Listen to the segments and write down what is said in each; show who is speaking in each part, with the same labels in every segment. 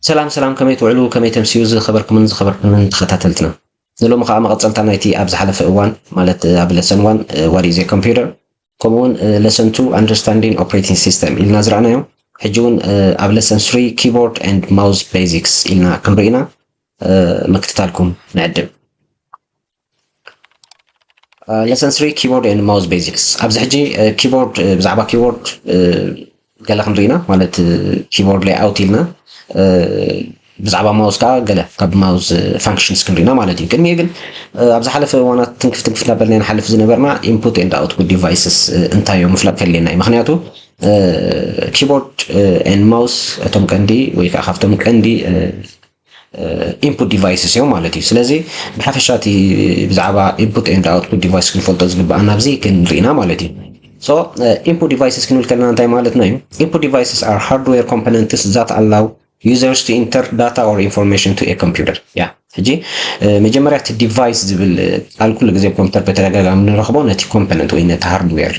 Speaker 1: ሰላም ሰላም ከመይ ትውዕሉ ከመይ ተምስዩ ዝኸበርኩምን ዝኸበርኩምን ተኸታተልትና ንሎሚ ከዓ መቐፀልታ ናይቲ ኣብ ዝሓለፈ እዋን ማለት ኣብ ለሰን ዋን ዋት ኢዝ ኮምፒውተር ከምኡውን ለሰን ቱ ኣንደርስታንዲንግ ኦፕሬቲንግ ሲስተም ኢልና ዝረኣናዮ ሕጂ እውን ኣብ ለሰን ስሪ ኪቦርድ ኤንድ ማውዝ ቤዚክስ ኢልና ክንርኢና ምክትታልኩም ንዕድም ለሰን ስሪ ኪቦርድ ኤንድ ማውዝ ቤዚክስ ኣብዚ ሕጂ ኪቦርድ ብዛዕባ ኪቦርድ ገለ ክንርኢ ኢና ማለት ኪቦርድ ላይ ኣውት ኢልና ብዛዕባ ማውዝ ከዓ ገለ ካብ ማውዝ ፋንክሽንስ ክንርኢ ኢና ማለት እዩ ቅድሚኡ ግን ኣብ ዝሓለፈ እዋናት ትንክፍ ትንክፍ እናበልና ንሓልፍ ዝነበርና ኢንፑት ኤንድ ኣውትፑት ዲቫይስስ እንታይ እዮም ምፍላጥ ከድልየና እዩ ምክንያቱ ኪቦርድ ኤንድ ማውስ እቶም ቀንዲ ወይ ከዓ ካብቶም ቀንዲ ኢንፑት ዲቫይስስ እዮም ማለት እዩ ስለዚ ብሓፈሻ እቲ ብዛዕባ ኢንፑት ኤንድ ኣውትፑት ዲቫይስ ክንፈልጦ ዝግባኣና ኣብዚ ክንሪኢና ማለት እዩ So uh, input devices ክንብል ከለና እንታይ ማለትና እዩ input devices are hardware components that allow users to enter data or information to a computer ያ ሕጂ መጀመርያ እቲ ዲቫይስ ዝብል ቃል ኩሉ ግዜ ኮምፒተር በተደጋጋሚ ንረኽቦ ነቲ ኮምፖነንት ወይ ነቲ ሃርድዌር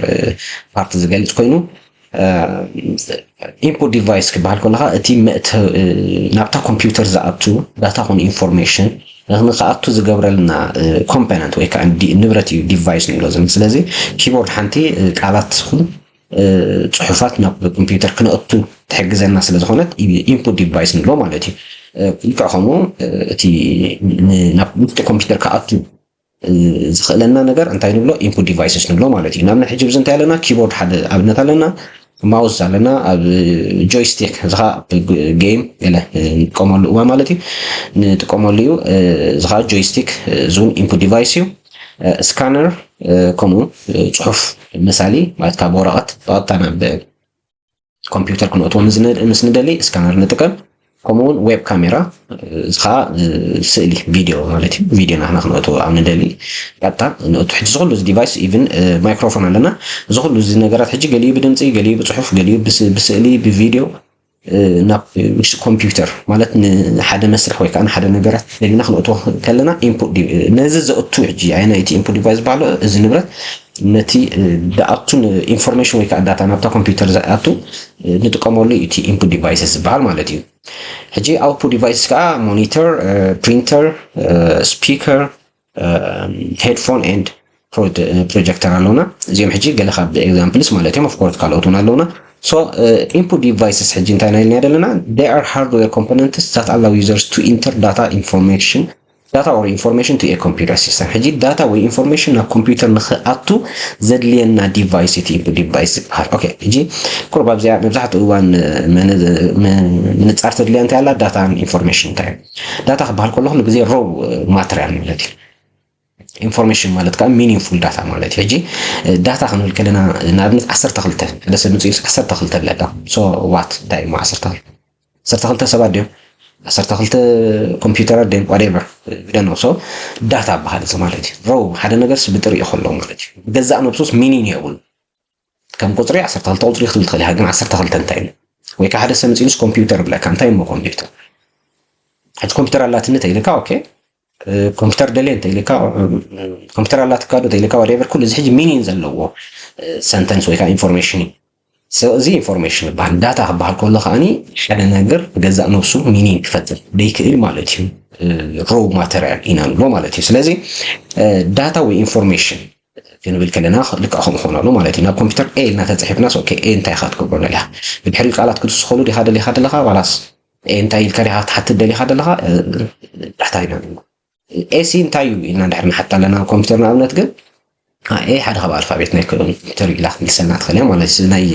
Speaker 1: ፓርቲ ዝገልፅ ኮይኑ ኢንፑት ዲቫይስ ክበሃል ከሎ ከዓ እቲ ናብታ ኮምፒውተር ዝኣቱ ዳታ ኮነ ኢንፎርሜሽን ንክኣቱ ዝገብረልና ኮምፖነንት ወይ ከዓ ንብረት እዩ ዲቫይስ ንብሎ ዘለና ስለዚ ኪቦርድ ሓንቲ ቃላት ይኹን ፅሑፋት ናብ ኮምፒውተር ክነእቱ ትሕግዘና ስለ ዝኾነት ኢንፑት ዲቫይስ ንብሎ ማለት እዩ ልክዕ ከምኡ እቲ ናብቲ ኮምፒውተር ክኣቱ ዝኽእለና ነገር እንታይ ንብሎ ኢንፑት ዲቫይስስ ንብሎ ማለት እዩ። ናብ ናይ ሕጂ ብዚ እንታይ ኣለና ኪቦርድ ሓደ ኣብነት ኣለና ማውስ ኣለና ኣብ ጆይስቲክ እዚ ከዓ ጌም ገለ ንጥቀመሉ እዋን ማለት እዩ ንጥቀመሉ እዩ እዚ ከዓ ጆይስቲክ እዚ እውን ኢንፑት ዲቫይስ እዩ ስካነር ከምኡ ፅሑፍ መሳሊ ማለት ካብ ወረቐት ብቐጥታ ናብ ኮምፒውተር ክንእትዎ ምስ ንደሊ ስካነር ንጥቀም ከምኡ እውን ዌብ ካሜራ እዚ ከዓ ስእሊ ቪድዮ ማለት እዩ ቪድዮ ናህና ክንእትዎ ኣብ ንደሊ ቀጥታ ንእቱ ሕጂ ዝኩሉ እዚ ዲቫይስ ኢቭን ማይክሮፎን ኣለና እዚ ኩሉ እዚ ነገራት ሕጂ ገሊኡ ብድምፂ ገሊኡ ብፅሑፍ ገሊኡ ብስእሊ ብቪድዮ ናብ ውሽጢ ኮምፒውተር ማለት ንሓደ መስርሕ ወይ ከዓ ንሓደ ነገራት ደሊና ክንእትዎ ከለና ኢንፑት ነዚ ዘእቱ ሕጂ ኣየናይ እቲ ኢንፑት ዲቫይስ ዝበሃሎ እዚ ንብረት ነቲ ድኣቱ ኢንፎርሜሽን ወይ ከዓ ዳታ ናብታ ኮምፒውተር ዝኣቱ ንጥቀመሉ እዩ እቲ ኢንፑት ዲቫይስስ ዝበሃል ማለት እዩ ሕጂ ኣውትፑት ዲቫይስስ ከዓ ሞኒተር ፕሪንተር ስፒከር ሄድፎን ኤንድ ፕሮጀክተር ኣለውና እዚኦም ሕጂ ገለ ካብ ኤግዛምፕልስ ማለት እዮም ኦፍኮርስ ካልኦት እውን ኣለውና ሶ ኢንፑት ዲቫይስስ ሕጂ እንታይ ናይ ኢልና ዘለና ዴይ ኣር ሃርድዌር ኮምፖነንትስ ዛት ኣላው ዩዘርስ ቱ ኢንተር ዳታ ኢንፎርሜሽን Data or Information to a Computer System ሕጂ ዳታ ወይ ኢንፎርሜሽን ናብ ኮምፒውተር ንክኣቱ ዘድልየና ዲቫይስ እቲ ኢንፑት ዲቫይስ ዝበሃል ኦኬ ሕጂ ቁርብ ኣብዚኣ መብዛሕትኡ እዋን ምንጻር ተድልያ እንታይ ኣላ ዳታ ኢንፎርሜሽን እንታይ እዩ ዳታ ክበሃል ከለኹ ንግዜ ሮው ማተርያል ማለት እዩ ኢንፎርሜሽን ማለት ከዓ ሚኒንፉል ዳታ ማለት እዩ ሕጂ ዳታ ክንብል ከለና ንኣብነት ዓሰርተ ክልተ ሓደ ሰብ ምፅኡስ ዓሰርተ ክልተ ኣለና ሶ ዋት እንታይ እሞ ዓሰርተ ክልተ ዓሰርተ ክልተ ሰባት ድዮም ዓሰርተ ክልተ ኮምፒውተራት ድዮም ዋትኤቨር ብደንብ ሶ ዳታ በሃል እዚ ማለት እዩ ሮ ሓደ ነገርስ ብጥሪኡ ከሎ ማለት እዩ ብገዛእ ነብሱስ ሚኒን የብሉ ከም ቁፅሪ ዓሰርተ ክልተ ቁፅሪ ክትብል ትኽእል ኢኻ ግን ዓሰርተ ክልተ እንታይ እዩ ወይ ከዓ ሓደ ሰብ መፂኡስ ኮምፒውተር ብለካ እንታይ እሞ ኮምፒውተር ሕጂ ኮምፒውተር ኣላትኒ ተይልካ ኦኬ ኮምፒተር ደልየ እንተኢልካ ኮምፒተር ኣላትካ ዶ እንተኢልካ ዋደቨር ኩሉ እዚ ሕጂ ሚኒን ዘለዎ ሰንተንስ ወይ ከዓ ኢንፎርሜሽን እዩ እዚ ኢንፎርሜሽን ይበሃል ዳታ ክበሃል ከሎ ከዓኒ ሓደ ነገር ገዛእ ነብሱ ሚኒን ክፈጥር ደይክእል ማለት እዩ ሮ ማተርያል ኢና ንብሎ ማለት እዩ ስለዚ ዳታ ወይ ኢንፎርሜሽን ክንብል ከለና ልክዕ ከምኡ ክኾኑ ኣሎ ማለት እዩ ናብ ኮምፒተር ኤ ኢልና ተፅሒፍናስ ኦኬ ኤ እንታይ ኢኻ ትገብረሉ ኢኻ ብድሕሪ ቃላት ክትስኸሉ ዲኻ ደሊኻ ደለኻ ዋላስ ኤ እንታይ ኢልካ ዲኻ ክትሓትት ደሊኻ ዘለኻ ዳሕታ ኢና ንብሎ ኤሲ እንታይ እዩ ኢልና ድሕሪ ንሓታ ኣለና ኣብ ኮምፒውተር ንኣብነት ግን ኤ ሓደ ካብ ኣልፋቤት ናይ ኮምፒውተር ኢላ ክትምልሰልና ትኽእል እያ ማለት እዩ ናይ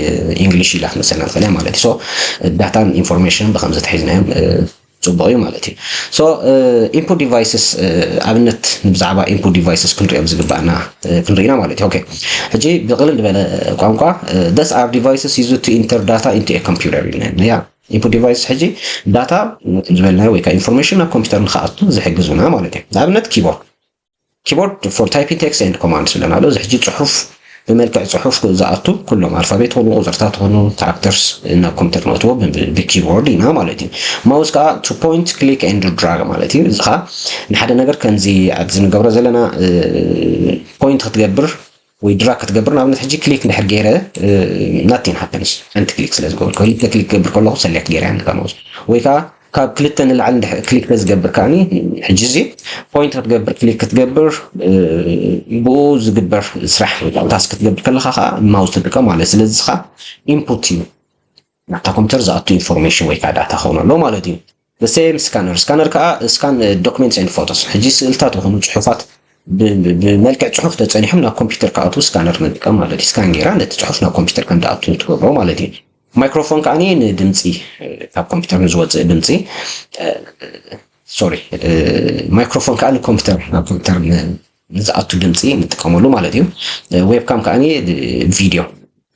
Speaker 1: እንግሊሽ ኢላ ክትመልሰልና ትኽእል እያ ማለት እዩ ሶ ዳታን ኢንፎርሜሽን ብከምዚ ተሒዝናዮም ፅቡቕ እዩ ማለት እዩ ሶ ኢንፑት ዲቫይስስ ኣብነት ብዛዕባ ኢንፑት ዲቫይስስ ክንሪኦም ዝግባእና ክንርኢና ማለት እዩ ኦኬ ሕጂ ብቕልል ዝበለ ቋንቋ ደስ ኣር ዲቫይስስ ዩዝ ቱ ኢንተር ዳታ ኢንቱ ኤ ኮምፒውተር ኢልና ያ ኢንፑት ዲቫይስ ሕጂ ዳታ ዝበልናዮ ወይ ከዓ ኢንፎርሜሽን ናብ ኮምፒውተር ንክኣቱ ዝሕግዙና ማለት እዮም። ንኣብነት ኪቦርድ ኪቦርድ ፎር ታይፒንግ ቴክስት ኤንድ ኮማንድስ ኣለና ኣሎ እዚ ሕጂ ፅሑፍ ብመልክዕ ፅሑፍ ዝኣቱ ኩሎም ኣልፋቤት ሆኑ ቁፅርታት ሆኑ ካራክተርስ ናብ ኮምፒውተር ነእትዎ ብኪቦርድ ኢና ማለት እዩ። ማውስ ከዓ ቱ ፖይንት ክሊክ ኤንድ ድራግ ማለት እዩ። እዚ ከዓ ንሓደ ነገር ከምዚ ኣብዚ ንገብሮ ዘለና ፖይንት ክትገብር ወይ ድራግ ክትገብር ንኣብነት ሕጂ ክሊክ እንድሕር ጌረ ናቲንግ ሃፐንስ ሓንቲ ክሊክ ስለ ዝገበርኩ ክልተ ክሊክ ክገብር ከለኹ ሰሌክት ጌረያ ነታ ማውዝ ወይ ከኣ ካብ ክልተ ንላዕሊ እንድሕር ክሊክ ተዝገብር ከኣኒ ሕጂ እዚ ፖይንት ክትገብር ክሊክ ክትገብር ብኡ ዝግበር ስራሕ ወይ ከኣ ታስክ ክትገብር ከለኻ ከኣ ማውዝ ትጥቀም ማለት ስለዚ ኢንፑት እዩ ናብታ ኮምፒተር ዝኣቱ ኢንፎርሜሽን ወይከዓ ዳታ ክኾን ኣለዎ ማለት እዩ። The same scanner ስካነር ከኣ scan documents and photos ሕጂ ስእልታት ይኹኑ ጽሑፋት ብመልክዕ ጽሑፍ ተጸኒሖም ናብ ኮምፒተር ክኣትዉ ስካነር ንጥቀም ማለት እዩ። ስካን ጌራ ነቲ ጽሑፍ ናብ ኮምፒተር ከም ዝኣቱ ትገብሮ ማለት እዩ። ማይክሮፎን ከኣ ንድምጺ ካብ ኮምፒተር ንዝወጽእ ድምጺ ሶሪ ማይክሮፎን ከኣ ንኮምፒተር ናብ ኮምፒተር ንዝኣቱ ድምፂ ንጥቀመሉ ማለት እዩ። ዌብ ካም ከዓ ቪድዮ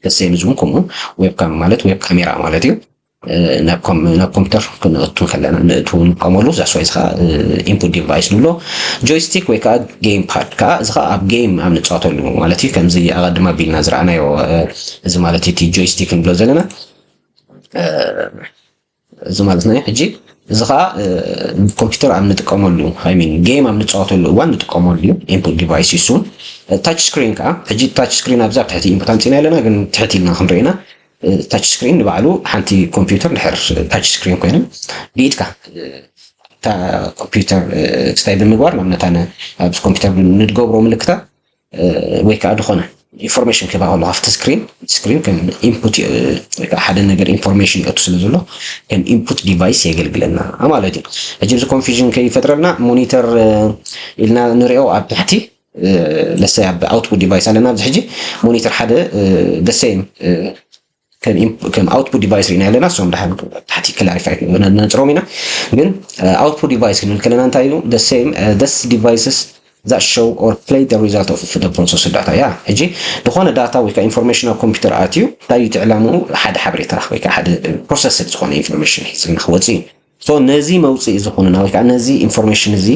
Speaker 1: ተሰይኑ ዝውን ከምኡ ዌብ ካም ማለት ዌብ ካሜራ ማለት እዩ። ናብ ኮምፒውተር ክንእቱ ከለና ንእቱ ንጥቀመሉ ዛስዋ እዚ ከዓ ኢንፑት ዲቫይስ ንብሎ። ጆይስቲክ ወይ ከዓ ጌም ፓድ ከዓ እዚ ከዓ ኣብ ጌም ኣብ ንፃወተሉ ማለት እዩ። ከምዚ ኣቐድም ኣቢልና ዝረኣናዮ እዚ ማለት እቲ ጆይስቲክ ንብሎ ዘለና እዚ ማለት ናይ ሕጂ እዚ ከዓ ኮምፒውተር ኣብ ንጥቀመሉ ኣይ ሚን ጌም ኣብ ንፃወተሉ እዋን ንጥቀመሉ እዩ ኢንፑት ዲቫይስ እዩ እሱውን ታች ስክሪን ከዓ ሕጂ ታች ስክሪን ኣብዚ ኣብ ትሕቲ ኢንፑት ኣምፂና ኣለና ግን ትሕቲ ኢልና ክንሪኦ ኢና ታች ስክሪን ንባዕሉ ሓንቲ ኮምፒውተር ድሕር ታች ስክሪን ኮይና ብኢድካ እታ ኮምፒውተር ስታይ ብምግባር ንኣብነት ኣነ ኣብዚ ኮምፒውተር ንድገብሮ ምልክታ ወይ ከዓ ዝኾነ ኢንፎርሜሽን ክህባ ከሎ ካብቲ ስክሪን ስክሪን ከም ኢንፑት ወይ ከዓ ሓደ ነገር ኢንፎርሜሽን ይእቱ ስለ ዘሎ ከም ኢንፑት ዲቫይስ የገልግለና ማለት እዩ ሕጂ እዚ ኮንፊዥን ከይፈጥረልና ሞኒተር ኢልና ንሪኦ ኣብ ታሕቲ ለሰይ ኣብ ኣውትፑት ዲቫይስ ኣለና ኣብዚ ሕጂ ሞኒተር ሓደ ደሰይም ከም ኣውትፑት ዲቫይስ ርኢና ኣለና እሶም ድሓን ታሕቲ ክላሪፋይ ነንፅሮም ኢና ግን ኣውትፑት ዲቫይስ ክንብል ከለና እንታይ እዩ the same this devices that show or play the result of the processed data ያ ሕጂ ዝኾነ ዳታ ወይ ከዓ ኢንፎርሜሽን ኣብ ኮምፒውተር ኣትዩ እንታይ እቲ ዕላምኡ ሓደ ሓበሬታ ወይ ከዓ ሓደ ፕሮሰስድ ዝኾነ ኢንፎርሜሽን ሒዝና ክወፅእ እዩ ሶ ነዚ መውፅኢ ዝኾኑና ወይ ከዓ ነዚ ኢንፎርሜሽን እዚ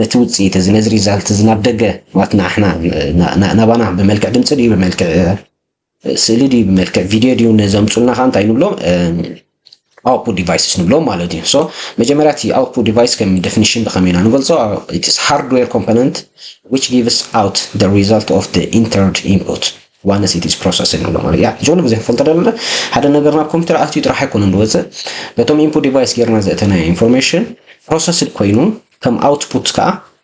Speaker 1: ነቲ ውፅኢት እዚ ነዚ ሪዛልት እዚ ናብ ደገ ማለት ንዓሕና ናባና ብመልክዕ ድምፂ ድዩ ብመልክዕ ስእሊ ድዩ ብመልክዕ ቪድዮ ድዩ ንዘምፁልና ከዓ እንታይ ንብሎም ኣውትፑት ዲቫይስስ ንብሎም ማለት እዩ ሶ መጀመርያ እቲ ኣውትፑት ዲቫይስ ከም ዴፊኒሽን ብከመይ ኢና ንገልፆ ኢትስ ሃርድዌር ኮምፖነንት ዊች ጊቭስ ኣውት ደ ሪዛልት ኦፍ ደ ኢንተርድ ኢንፑት ዋንስ ኢት ኢዝ ፕሮሰስ ንብሎ ማለት እያ ጆሉ ግዜ ክንፈልጦ ዘለና ሓደ ነገር ናብ ኮምፒውተር ኣትዩ ጥራሕ ኣይኮነን ዝወፅእ በቶም ኢንፑት ዲቫይስ ጌርና ዘእተናዮ ኢንፎርሜሽን ፕሮሰስድ ኮይኑ ከም ኣውትፑት ከዓ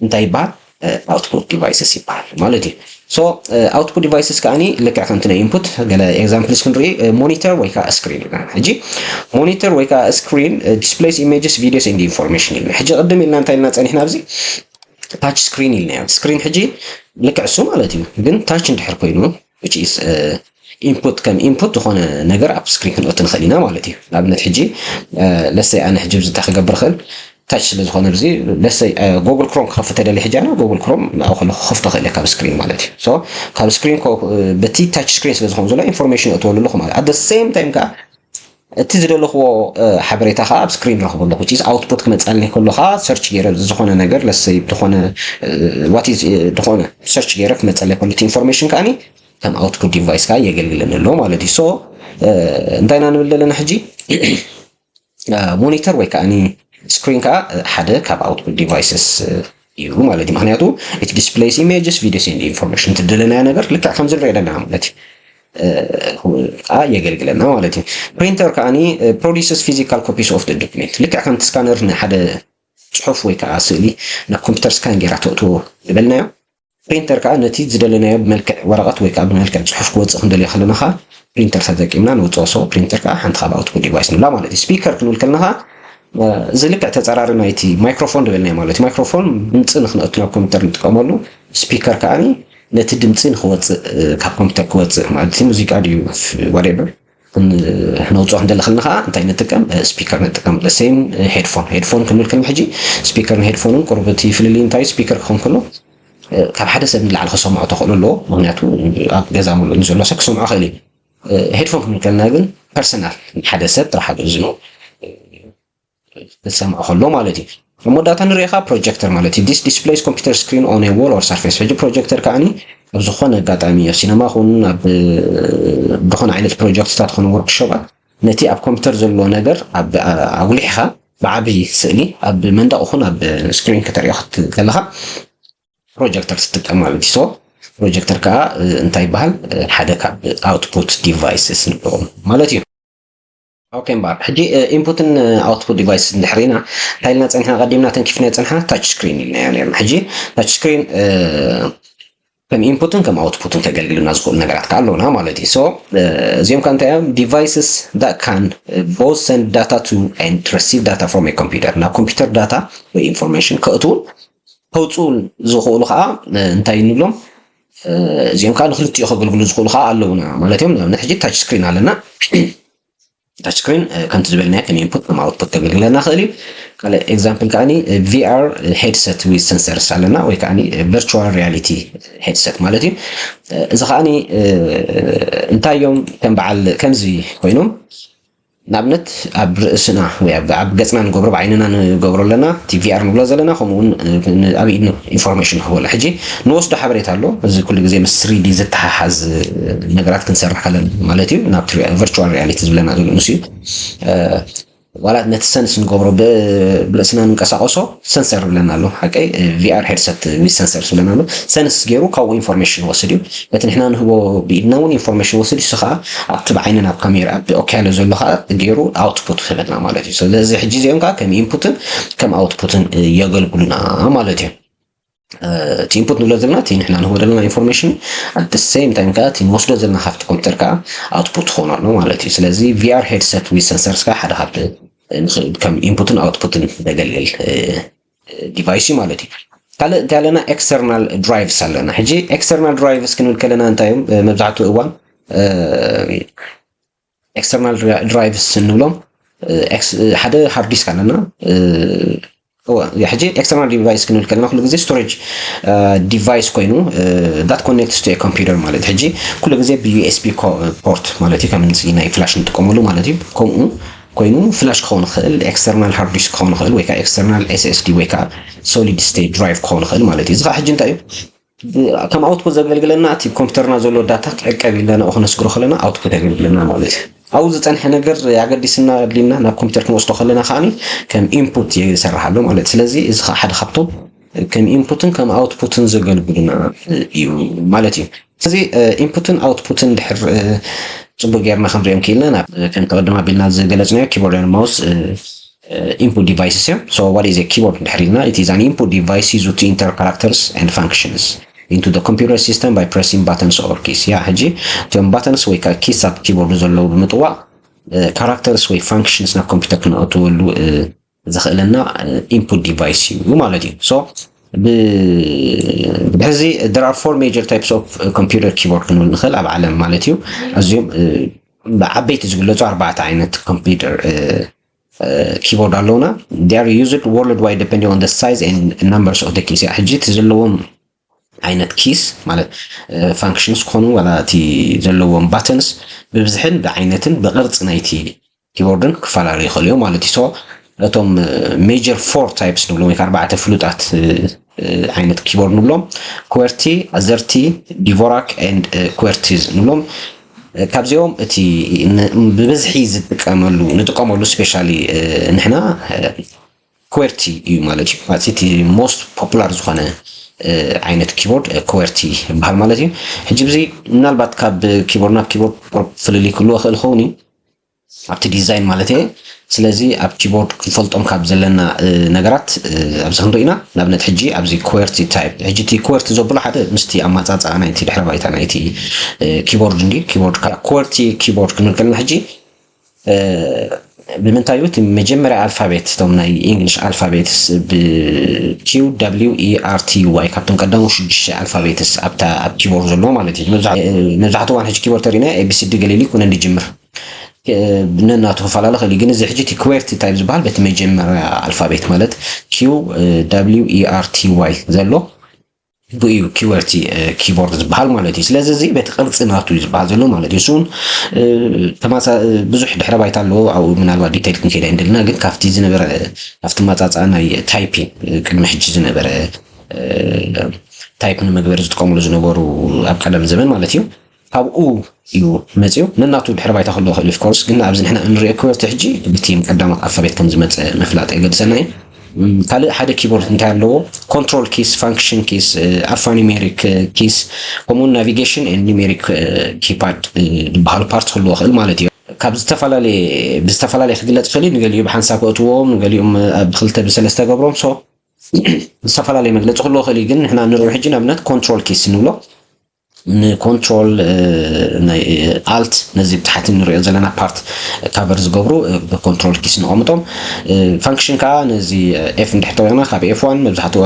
Speaker 1: እንታይ ይበሃል ኣውትፑት ዲቫይስስ ይበሃል ማለት እዩ ሶ ኣውትፑት ዲቫይስስ ከዓኒ ልክዕ ከምቲ ናይ ኢንፑት ገለ ኤግዛምፕልስ ክንርኢ ሞኒተር ወይ ከዓ ስክሪን ይብላና ሕጂ ሞኒተር ወይ ከዓ ስክሪን ዲስፕሌይስ ኢሜጅስ ቪዲዮስ ኤንድ ኢንፎርሜሽን ኢልና ሕጂ ቅድም ኢልና እንታይ ኢልና ፀኒሕና ኣብዚ ታች ስክሪን ኢልናዮ ስክሪን ሕጂ ልክዕ እሱ ማለት እዩ ግን ታች እንድሕር ኮይኑ which is ኢንፑት ከም ኢንፑት ዝኾነ ነገር ኣብ ስክሪን ክንኦት ንኽእል ኢና ማለት እዩ ንኣብነት ሕጂ ለሰይ ኣነ ሕጂ ብዚ እንታይ ክገብር ኽእል ታች ስለ ዝኾነ ብዚ ለሰይ ጎግል ክሮም ክኸፍት ተደሊ ሕጂ ኣነ ጎግል ክሮም ኣብኡ ከለኹ ክኸፍቶ ክእል ካብ ስክሪን ማለት እዩ ሶ ካብ ስክሪን በቲ ታች ስክሪን ስለ ዝኾነ ዘሎ ኢንፎርሜሽን የእትወሉ ኣለኹ ማለት ኣት ሴም ታይም ከዓ እቲ ዝደለኽዎ ሓበሬታ ከኣ ኣብ ስክሪን ረኽቦ ኣለኹ which is ኣውትፑት ክመጻልኒ ከሎ ከኣ ሰርች ጌረ ዝኾነ ነገር let's say ዝኾነ what is ዝኾነ ሰርች ጌረ ክመጸለይ ከሎ እቲ ኢንፎርሜሽን ከኣኒ ከም ኣውትፑት ዲቫይስ ከኣ የገልግለኒ ኣሎ ማለት እዩ ሶ እንታይ ኢና ንብል ዘለና ሕጂ ሞኒተር ወይ ከኣኒ ስክሪን ከኣ ሓደ ካብ ኣውትፑት ዲቫይስስ እዩ ማለት እዩ ምክንያቱ እቲ ዲስፕሌይስ ኢሜጅስ ቪዲዮስ ኤንድ ኢንፎርሜሽን እቲ ዝደለናዮ ነገር ልክዕ ከምዚ ንሪኦ ኣለና ማለት እዩ ከዓ የገልግለና ማለት እዩ ፕሪንተር ከዓኒ ፕሮዲስስ ፊዚካል ኮፒስ ኦፍ ዶክሜንት ልክዕ ከምቲ ስካነር ንሓደ ፅሑፍ ወይ ከዓ ስእሊ ናብ ኮምፒውተር ስካን ጌራ ተእትዎ ዝበልናዮ ፕሪንተር ከኣ ነቲ ዝደለናዮ ብመልክዕ ወረቐት ወይ ከኣ ብመልክዕ ጽሑፍ ክወጽእ ክንደልዮ ከለና ከኣ ፕሪንተር ተጠቂምና ነውጽኦ። ሶ ፕሪንተር ከኣ ሓንቲ ካብ ኣውትፑት ዲቫይስ ንብላ ማለት እዩ። ስፒከር ክንብል ከለና ከኣ እዚ ልክዕ ተጻራሪ ናይቲ ማይክሮፎን ዝበልናዮ ማለት እዩ። ማይክሮፎን ድምጺ ንክነእቱ ናብ ኮምፒተር ንጥቀመሉ፣ ስፒከር ከኣ ነቲ ድምጺ ንክወጽእ ካብ ኮምፒተር ክወጽእ ማለት እቲ ሙዚቃ ድዩ ዋትኤቨር ክነውፅኦ ክንደሊ ከለና ከዓ እንታይ ንጥቀም ስፒከር ንጥቀም ሴም ሄድፎን ሄድፎን ክንብል ከለና ሕጂ ስፒከርን ሄድፎንን ቁርብ እቲ ፍልልይ እንታይ ስፒከር ክኸውን ከሎ ካብ ሓደ ሰብ ንላዕሊ ክሰምዖ ተኽእሎ ኣለዎ ምክንያቱ ኣብ ገዛ ምሉእ ንዘሎ ሰብ ክሰምዖ ክእል እዩ ሄድፎን ክንብል ከለና ግን ፐርሰናል ሓደ ሰብ ጥራሕ ኣብ እዝኑ ክትሰምዖ ከሎ ማለት እዩ። ኣብ መወዳእታ ንርእኻ ፕሮጀክተር ማለት እዩ። This displays computer screen on a wall or surface ሕጂ ፕሮጀክተር ከኣኒ ኣብ ዝኾነ ኣጋጣሚ ኣብ ሲነማ ኹን ኣብ ዝኾነ ዓይነት ፕሮጀክትታት ኹን ወርክሾባት ነቲ ኣብ ኮምፒተር ዘሎ ነገር ኣብ ኣጉሊሕኻ ብዓቢ ስእሊ ኣብ መንደቕ ኹን ኣብ ስክሪን ከተርእዮ ከለኻ ፕሮጀክተር ትጥቀም ማለት እዩ። ሶ ፕሮጀክተር ከኣ እንታይ ይበሃል ሓደ ካብ ኣውትፑት ዲቫይስስ ንብሎም ማለት እዩ። ኦኬ እምበኣር ሕጂ ኢንፑትን ኣውትፑት ዲቫይስ እንድሕር ኢና እንታይ ኢልና ፀኒሕና ቀዲምና ተንኪፍናዮ ፀንሕና ታች ስክሪን ኢልናዮ ነርና ሕጂ ታች ስክሪን ከም ኢንፑትን ከም ኣውትፑትን ከገልግሉና ዝኽእሉ ነገራት ከዓ ኣለውና ማለት እዩ ሶ እዚኦም ከዓ እንታይ እዮም ዲቫይስስ ዳ ካን ቦዝ ሰንድ ዳታ ቱ ኤንድ ረሲቭ ዳታ ፍሮም ኮምፒውተር ናብ ኮምፒውተር ዳታ ወይ ኢንፎርሜሽን ከእትውን ከውፅኡን ዝኽእሉ ከዓ እንታይ ንብሎም እዚኦም ከዓ ንክልቲኡ ከገልግሉ ዝኽእሉ ከዓ ኣለውና ማለት እዮም ንኣብነት ሕጂ ታች ስክሪን ኣለና ታች ስክሪን ከምቲ ዝበልናዮ ከም ኢንፑት ከም ኣውትፑት ከገልግለና ክእል እዩ ካልእ ኤግዛምፕል ከዓኒ ቪኣር ሄድሰት ዊዝ ሰንሰርስ ኣለና ወይ ከዓኒ ቨርቹዋል ሪያሊቲ ሄድሰት ማለት እዩ እዚ ከዓኒ እንታይ እዮም ከም በዓል ከምዚ ኮይኖም ንኣብነት ኣብ ርእስና ወይ ኣብ ገጽና ንገብሮ ኣብ ዓይንና ንገብሮ ኣለና እቲ ቪኣር ንብሎ ዘለና ከምኡ ውን ኣብ ኢድና ኢንፎርሜሽን ንህቦ ኣሎ ሕጂ ንወስዶ ሓበሬታ ኣሎ እዚ ኩሉ ግዜ ምስ ስሪዲ ዝተሓሓዝ ነገራት ክንሰርሕ ከለና ማለት እዩ ናብ ቨርቹዋል ሪያሊቲ ዝብለና ዘሎ ንሱ እዩ ዋላ ነቲ ሰንስ ንገብሮ ብርእስና ንንቀሳቀሶ ሰንሰር ይብለና ኣሎ ሓቀይ ቪኣር ሄድሰት ዊዝ ሰንሰር ዝብለና ኣሎ ሰንስ ገይሩ ካብኡ ኢንፎርሜሽን ይወስድ እዩ እቲ ንሕና ንህቦ ብኢድና እውን ኢንፎርሜሽን ወስድ እሱ ከዓ ኣብቲ ብዓይንን ኣብ ካሜራ ኣብ ኦኪያለ ዘሎ ከዓ ገይሩ ኣውትፑት ክህበና ማለት እዩ ስለዚ ሕጂ እዚኦም ከዓ ከም ኢንፑትን ከም ኣውትፑትን የገልግሉና ማለት እዩ እቲ ኢንፑት ንብሎ ዘለና እቲ ንሕና ንህቦ ዘለና ኢንፎርሜሽን ኣት ሴም ታይም ከዓ እቲ ንወስዶ ዘለና ካብቲ ኮምፒተር ከዓ ኣውትፑት ክኾኑ ኣሎ ማለት እዩ ስለዚ ቪኣር ሄድሰት ዊዝ ሰንሰርስ ከዓ ሓደ ካብቲ ከም ኢንፑትን ኣውትፑትን ዘገልግል ዲቫይስ እዩ ማለት እዩ ካልእ እንታይ ኣለና ኤክስተርናል ድራይቭስ ኣለና ሕጂ ኤክስተርናል ድራይቭስ ክንብል ከለና እንታይ እዮም መብዛሕትኡ እዋን ኤክስተርናል ድራይቭስ እንብሎም ሓደ ሃርድ ዲስክ ኣለና ሕጂ ኤክስተርናል ዲቫይስ ክንብል ከለና ኩሉ ግዜ ስቶሬጅ ዲቫይስ ኮይኑ ዳት ኮኔክትስ ቱ ኮምፒውተር ማለት ሕጂ ኩሉ ግዜ ብዩኤስቢ ፖርት ማለት እዩ ከም ናይ ፍላሽ ንጥቀመሉ ማለት እዩ ከምኡ ኮይኑ ፍላሽ ክኸውን ይኽእል ኤክስተርናል ሃርድ ዲስክ ክኸውን ይኽእል ወይ ከዓ ኤክስተርናል ኤስኤስዲ ወይ ከዓ ሶሊድ ስቴት ድራይቭ ክኸውን ይኽእል ማለት እዩ እዚ ከዓ ሕጂ እንታይ እዩ ከም ኣውትፑት ዘገልግለና እቲ ኮምፒተርና ዘሎ ዳታ ክዕቀብ እዩ ለናኡ ክነስግሮ ከለና ኣውትፑት የገልግለና ማለት እዩ ኣብኡ ዝፀንሐ ነገር ኣገዲስና ኣድሊና ናብ ኮምፒተር ክንወስዶ ከለና ከዓኒ ከም ኢንፑት ይሰርሕ ኣሎ ማለት ስለዚ እዚ ከዓ ሓደ ካብቶም ከም ኢንፑትን ከም ኣውትፑትን ዘገልግሉና እዩ ማለት እዩ ስለዚ ኢንፑትን ኣውትፑትን ድሕር ፅቡቅ ጌርና ክንሪኦም ክኢልና ናብ ከምቲ ቅድም ኣቢልና ዝገለፅናዮ ኪቦርድን ማውስ ኢንፑት ዲቫይስስ እዮም። ሶ ዋት ኢዝ ኤ ኪቦርድ እንድሕር ኢልና ኢት ኢዝ ኣን ኢንፑት ዲቫይስ ዩዝድ ቱ ኢንተር ካራክተርስ ኣንድ ፋንክሽንስ ኢንቱ ዘ ኮምፒውተር ሲስተም ባይ ፕረሲንግ ባተንስ ኦር ኪስ። ያ ሕጂ እቲኦም ባተንስ ወይ ከዓ ኪስ ኣብ ኪቦርድ ዘለዉ ብምጥዋቕ ካራክተርስ ወይ ፋንክሽንስ ናብ ኮምፒውተር ክነእትወሉ ዘኽእለና ኢንፑት ዲቫይስ እዩ ማለት እዩ። ሶ ብሕዚ ደር ኣር ፎር ሜጀር ታይፕስ ኦፍ ኮምፒውተር ኪቦርድ ክንብል ንኽእል ኣብ ዓለም ማለት እዩ። ኣዝዮም ብዓበይቲ ዝግለፁ ኣርባዕተ ዓይነት ኮምፒውተር ኪቦርድ ኣለውና they are used worldwide depending on the size and numbers of the keys ያ ሕጂ እቲ ዘለዎም ዓይነት ኪስ ማለት ፋንክሽንስ ክኾኑ ዋላ እቲ ዘለዎም ባተንስ ብብዝሕን ብዓይነትን ብቅርፂ ናይቲ ኪቦርድን ክፈላለዩ ይኽእሉ እዮም ማለት እዩ ሶ እቶም ሜጀር ፎር ታይፕስ ንብሎም ወይ ኣርባዕተ ፍሉጣት ዓይነት ኪቦርድ ንብሎም ኩወርቲ፣ ኣዘርቲ፣ ዲቮራክ ኤንድ ኩወርቲዝ ንብሎም ካብዚኦም እቲ ብብዝሒ ዝጥቀመሉ ንጥቀመሉ ስፔሻሊ ንሕና ኩወርቲ እዩ ማለት እዩ ማለት እቲ ሞስት ፖፑላር ዝኾነ ዓይነት ኪቦርድ ኮወርቲ ይበሃል ማለት እዩ ሕጂ ብዚ ምናልባት ካብ ኪቦርድ ናብ ኪቦርድ ፍልልይ ክህልዎ ክእል ይኸውን እዩ ኣብቲ ዲዛይን ማለት እየ ስለዚ ኣብ ኪቦርድ ክንፈልጦም ካብ ዘለና ነገራት ኣብዚ ክንሪእ ኢና ንኣብነት ሕጂ ኣብዚ ኮርቲ ታይፕ ሕጂ እቲ ኮርቲ ዘብሎ ሓደ ምስቲ ኣማጻጽኣ ናይቲ ድሕረ ባይታ ናይቲ ኪቦርድ እንዲ ኪቦርድ ካላ ኮርቲ ኪቦርድ ክንብል ከለና ሕጂ ብምንታይ እዩ እቲ መጀመርያ ኣልፋቤት እቶም ናይ ኢንግሊሽ ኣልፋቤትስ ብኪው ደብሊው ኢኣርቲ ዋይ ካብቶም ቀዳሙ ሽዱሽተ ኣልፋቤትስ ኣብታ ኣብ ኪቦርድ ዘለዎ ማለት እዩ መብዛሕትኡ እዋን ሕጂ ኪቦርድ ተሪእና ኤቢሲዲ ገሊሉ ይኩነ እንዲ ጅምር ነናቱ ክፈላለ ክእል ግን እዚ ሕጂ እቲ ክዌርቲ ታይፕ ዝበሃል በቲ መጀመርያ ኣልፋቤት ማለት ኪው ደብሊው ኢኣርቲ ዋይ ዘሎ ብእዩ ኪወርቲ ኪቦርድ ዝበሃል ማለት እዩ ስለዚ እዚ በቲ ቅርፂ ናቱ እዩ ዝበሃል ዘሎ ማለት እዩ እሱን ተማሳ ብዙሕ ድሕረ ባይታ ኣለዎ ኣብኡ ምናልባት ዲቴይል ክንከይዳ እንደልና ግን ካብቲ ዝነበረ ኣብቲ ማፃፃ ናይ ታይፒን ቅድሚ ሕጂ ዝነበረ ታይፕ ንምግበር ዝጥቀምሉ ዝነበሩ ኣብ ቀደም ዘበን ማለት እዩ ካብኡ እዩ መጺኡ ነናቱ ድሕረ ባይታ ክህልዎ ይኽእል እዩ of course ግን ኣብዚ ንሕና እንርእዮ QWERTY ሕጂ ብቲም ቀዳሞት ኣልፋቤት ከም ዝመጸ ምፍላጥ የገድሰና እዩ። ካልእ ሓደ ኪቦርድ እንታይ ኣለዎ ኮንትሮል ኪስ፣ ፋንክሽን ኪስ፣ ኣልፋኑሜሪክ ኪስ ከምኡውን ናቪጌሽን and ኑሜሪክ ኪፓድ ዝበሃሉ ፓርት ክህልዎ ይኽእል ማለት እዩ። ካብ ዝተፈላለየ ብዝተፈላለየ ክግለጽ ይኽእል እዩ ንገሊኡ ብሓንሳብ ከእትዎም ንገሊኡ ብክልተ ብሰለስተ ገብሮም so ዝተፈላለየ መግለጺ ክህልዎ ይኽእል እዩ ግን ንሕና እንርእዮ ሕጂ ንኣብነት ኮንትሮል ኪስ ንብሎ ንኮንትሮል ኣልት ነዚ ብታሕቲ ንሪኦ ዘለና ፓርት ካቨር ዝገብሩ ብኮንትሮል ኪስ ነቐምጦም ፋንክሽን ከዓ ነዚ ኤፍ እንድሕር ተወቕና ካብ ኤፍ ዋን መብዛሕትኡ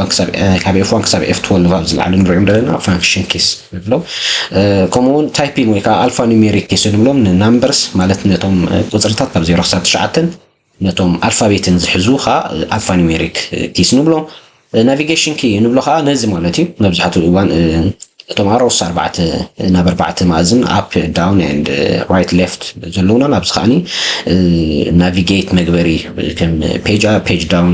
Speaker 1: ካብ ኤፍ ዋን ክሳብ ኤፍ ትወልቭ ኣብ ዝለዓሉ ንሪኦም ዘለና ፋንክሽን ኪስ ንብሎም ከምኡውን ታይፒን ወይ ከዓ ኣልፋ ኒሜሪክ ኪስ ንብሎም ንናምበርስ ማለት ነቶም ቁፅርታት ካብ ዜሮ ክሳብ ትሽዓተን ነቶም ኣልፋቤትን ዝሕዙ ከኣ ኣልፋኒሜሪክ ኪስ ንብሎ። ናቪገሽን ኪይ እንብሎ ከኣ ነዚ ማለት እዩ። መብዛሕትኡ እዋን እቶም ኣሮውስ ኣርባዕተ ናብ ኣርባዕተ መኣዝን፣ up down and right left፣ ዘለዉና ናብዚ ከኣ ናቪጌት መግበሪ ከም ፔጅ up ፔጅ down፣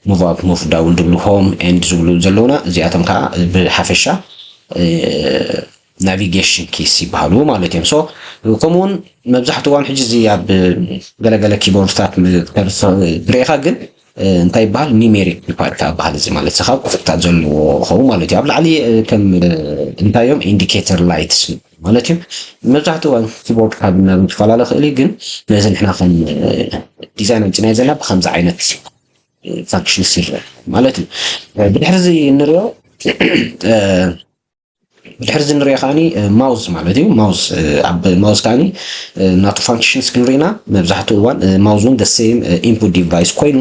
Speaker 1: ሙቭ up ሙቭ down ዝብሉ፣ ሆም ኤንድ ዝብሉ ዘለዉና እዚኣቶም ከኣ ብሓፈሻ ናቪጌሽን ኪስ ይበሃሉ ማለት እዮም። ሶ ከምኡ ውን መብዛሕትኡ እዋን ሕጂ እዚ ኣብ ገለገለ ኪቦርድታት ርኢኻ ግን እንታይ ይበሃል ኒሜሪክ ኪፓድ ካብ በሃል እዚ ማለት እዚ ካብ ቁፅርታት ዘለዎ ኸው ማለት እዩ ኣብ ላዕሊ ከም እንታይ እዮም ኢንዲኬተር ላይትስ ማለት እዩ መብዛሕትኡ እዋን ኪቦርድ ካብ ናብ እንትፈላለ ክእል እዩ ግን ነዚ ንሕና ከም ዲዛይን ኣምፅናዮ ዘለና ብከምዚ ዓይነት ፋንክሽንስ ይረአ ማለት እዩ ብድሕሪ እዚ እንሪኦ ድሕሪ እዚ ንሪኦ ከዓኒ ማውዝ ማለት እዩ ማውዝ ኣብ ማውዝ ከዓኒ ናቱ ፋንክሽንስ ክንሪኢና መብዛሕትኡ እዋን ማውዝ እውን ደሴም ኢንፑት ዲቫይስ ኮይኑ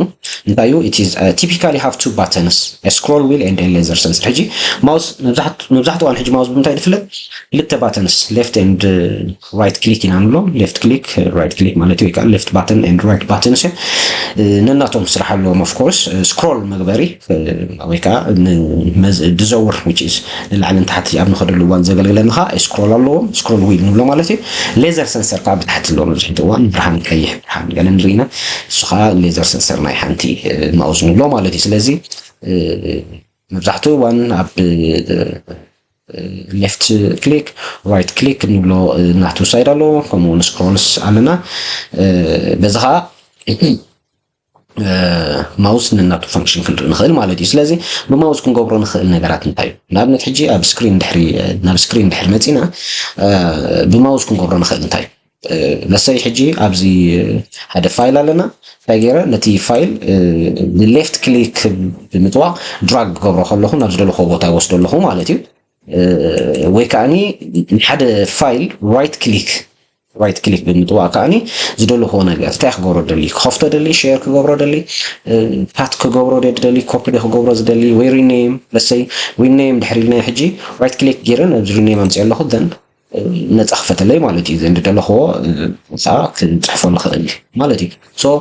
Speaker 1: እንታይ እዩ ኢት ቲፒካሊ ሃቭ ቱ ባተንስ ስክሮል ዊል ኤንድ ሌዘር ሰንሰር ሕጂ ማውዝ መብዛሕትኡ እዋን ሕጂ ማውዝ ብምንታይ ድፍለጥ ክልተ ባተንስ ሌፍት ኤንድ ራይት ክሊክ ኢና ንብሎ ሌፍት ክሊክ ራይት ክሊክ ማለት እዩ ወይ ከዓ ሌፍት ባተን ኤንድ ራይት ባተን ሲ ነናቶም ስራሕ ኣለዎም ኦፍ ኮርስ ስክሮል መግበሪ ወይ ከዓ ድዘውር ዊች ኢዝ ንላዕልን ታሕቲ ኣብ ንኸደሉ እዋን ዘገልግለኒ ከዓ ስክሮል ኣለዎም ስክሮል ዊል ንብሎ ማለት እዩ ሌዘር ሰንሰር ከዓ ብታሕቲ ኣለዎ መብዛሕቲ እዋን ብርሃን ቀይሕ ብርሃን ገለ ንርኢ ኢና እሱ ከዓ ሌዘር ሰንሰር ናይ ሓንቲ ማውዝ ንብሎ ማለት እዩ ስለዚ መብዛሕትኡ እዋን ኣብ ሌፍት ክሊክ ራይት ክሊክ እንብሎ ናቱ ሳይድ ኣሎ ከምኡ ውን ስክሮልስ ኣለና በዚ ከዓ ማውስ ንናቱ ፋንክሽን ክንርኢ ንኽእል ማለት እዩ ስለዚ ብማውስ ክንገብሮ ንኽእል ነገራት እንታይ እዩ ንኣብነት ሕጂ ኣብ ስክሪን ድሕሪ ናብ ስክሪን ድሕሪ መፂና ብማውስ ክንገብሮ ንኽእል እንታይ እዩ መሰይ ሕጂ ኣብዚ ሓደ ፋይል ኣለና እንታይ ገይረ ነቲ ፋይል ንሌፍት ክሊክ ብምጥዋቕ ድራግ ክገብሮ ከለኹ ናብ ዝደለኹዎ ቦታ ይወስዶ ኣለኹ ማለት እዩ ወይ ከዓኒ ንሓደ ፋይል ራይት ክሊክ ራይት ክሊክ ብምጥዋቕ ከዓኒ ዝደለኹዎ ነገር እንታይ ክገብሮ ደሊ ክኸፍቶ ደሊ ሼር ክገብሮ ደሊ ፓት ክገብሮ ደ ደሊ ኮፒ ደ ክገብሮ ዝደሊ ወይ ሪኔም ለሰይ ሪኔም ድሕሪ ኢልና ሕጂ ራይት ክሊክ ገይረ ነዚ ሪኔም ኣምፅኦ ኣለኹ ዘን ነጻ ክፈተለይ ማለት እዩ ዝደለኽዎ ነጻ ክንጽሕፎ ንኽእል ማለት እዩ ሶ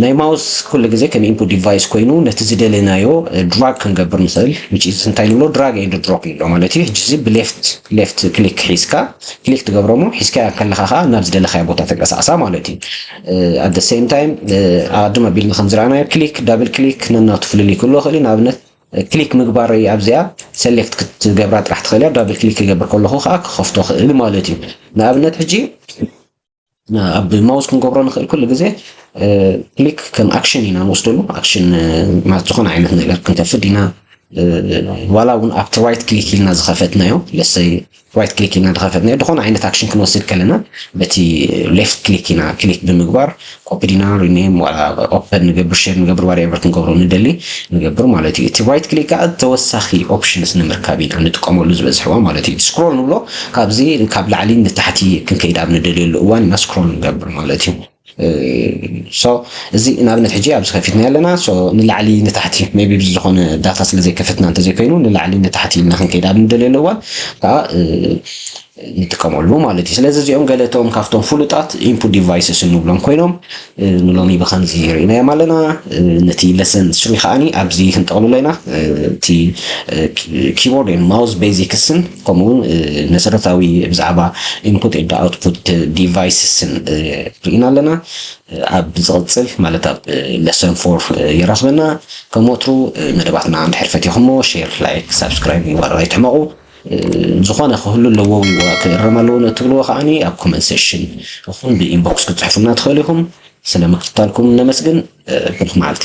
Speaker 1: ናይ ማውስ ኩሉ ግዜ ከም ኢንፑት ዲቫይስ ኮይኑ ነቲ ዝደለናዮ ድራግ ክንገብር ንኽእል which is እንታይ ንብሎ ድራግ ኤንድ ድሮፕ ንብሎ ማለት እዩ ሕጂ እዚ ብሌፍት ሌፍት ክሊክ ሒዝካ ክሊክ ትገብሮ እሞ ሒዝካያ ከለኻ ከዓ ናብ ዝደለኻዮ ቦታ ተንቀሳቕሳ ማለት እዩ ኣት ሴም ታይም ኣቐድም ኣቢልና ከም ዝረኣናዮ ክሊክ ዳብል ክሊክ ነናቱ ፍልልይ ክህልዎ ይኽእል እዩ ንኣብነት ክሊክ ምግባረይ ኣብዚኣ ሰሌክት ክትገብራ ጥራሕ ትኽእል እያ ዳብል ክሊክ ክገብር ከለኹ ከዓ ክኸፍቶ ክእል ማለት እዩ ንኣብነት ሕጂ ኣብ ማውስ ክንገብሮ ንኽእል ኩሉ ግዜ ክሊክ ከም ኣክሽን ኢና ንወስደሉ ኣክሽን ማለት ዝኾነ ዓይነት ነገር ክንከፍት ኢና ዋላ እውን ኣብቲ ራይት ክሊክ ኢልና ዝኸፈትናዮ ለሰይ ራይት ክሊክ ኢና ድኸፈት ናይ ድኾነ ዓይነት ኣክሽን ክንወስድ ከለና በቲ ሌፍት ክሊክ ኢና ክሊክ ብምግባር ኮፒ ዲና ሪኔም ዋላ ኦፐን ንገብር ሼር ንገብር ዋትኤቨር ክንገብሮ ንደሊ ንገብር ማለት እዩ እቲ ራይት ክሊክ ከዓ ተወሳኺ ኦፕሽንስ ንምርካብ ኢና ንጥቀመሉ ዝበዝሕዋ ማለት እዩ ስክሮል ንብሎ ካብዚ ካብ ላዕሊ ንታሕቲ ክንከይድ ኣብ ንደልየሉ እዋን ኢና ስክሮል ንገብር ማለት እዩ ሶ እዚ ንኣብነት ሕጂ ኣብዚ ከፊትና ኣለና ሶ ንላዕሊ ንታሕቲ ሜቢ ብዚ ዝኾነ ዳታ ስለ ዘይከፈትና እንተዘይኮይኑ ንላዕሊ ንታሕቲ ኢልና ክንከይድ ኣብ ንደልየሉ እዋን ከዓ ንጥቀመሉ ማለት እዩ ስለዚ እዚኦም ገለቶም ካብቶም ፍሉጣት ኢንፑት ዲቫይስስ እንብሎም ኮይኖም ንሎሚ ብከምዚ ርኢናዮም ኣለና ነቲ ለሰን ስሪ ከዓኒ ኣብዚ ክንጠቕልሎ ኢና እቲ ኪቦርድ ማውዝ ቤዚክስን ከምኡ ውን መሰረታዊ ብዛዕባ ኢንፑት ኤንድ ኣውትፑት ዲቫይስስን ርኢና ኣለና። ኣብ ዝቕጽል ማለት ኣብ ለሰን ፎር የራኽበና። ከም ወትሩ መደባትና እንድሕር ፈቲኹሞ ሼር ላይክ ሳብስክራይብ ምግባር ኣይትሕመቑ። ዝኾነ ክህሉ ኣለዎ ወይ ክእረም ኣለዎ ንእትብልዎ ከዓኒ ኣብ ኮመንት ሴሽን እኹን ብኢንቦክስ ክትጽሕፉልና ትኽእሉ ኢኹም። ስለ ምክትታልኩም ነመስግን። ብሩኽ መዓልቲ።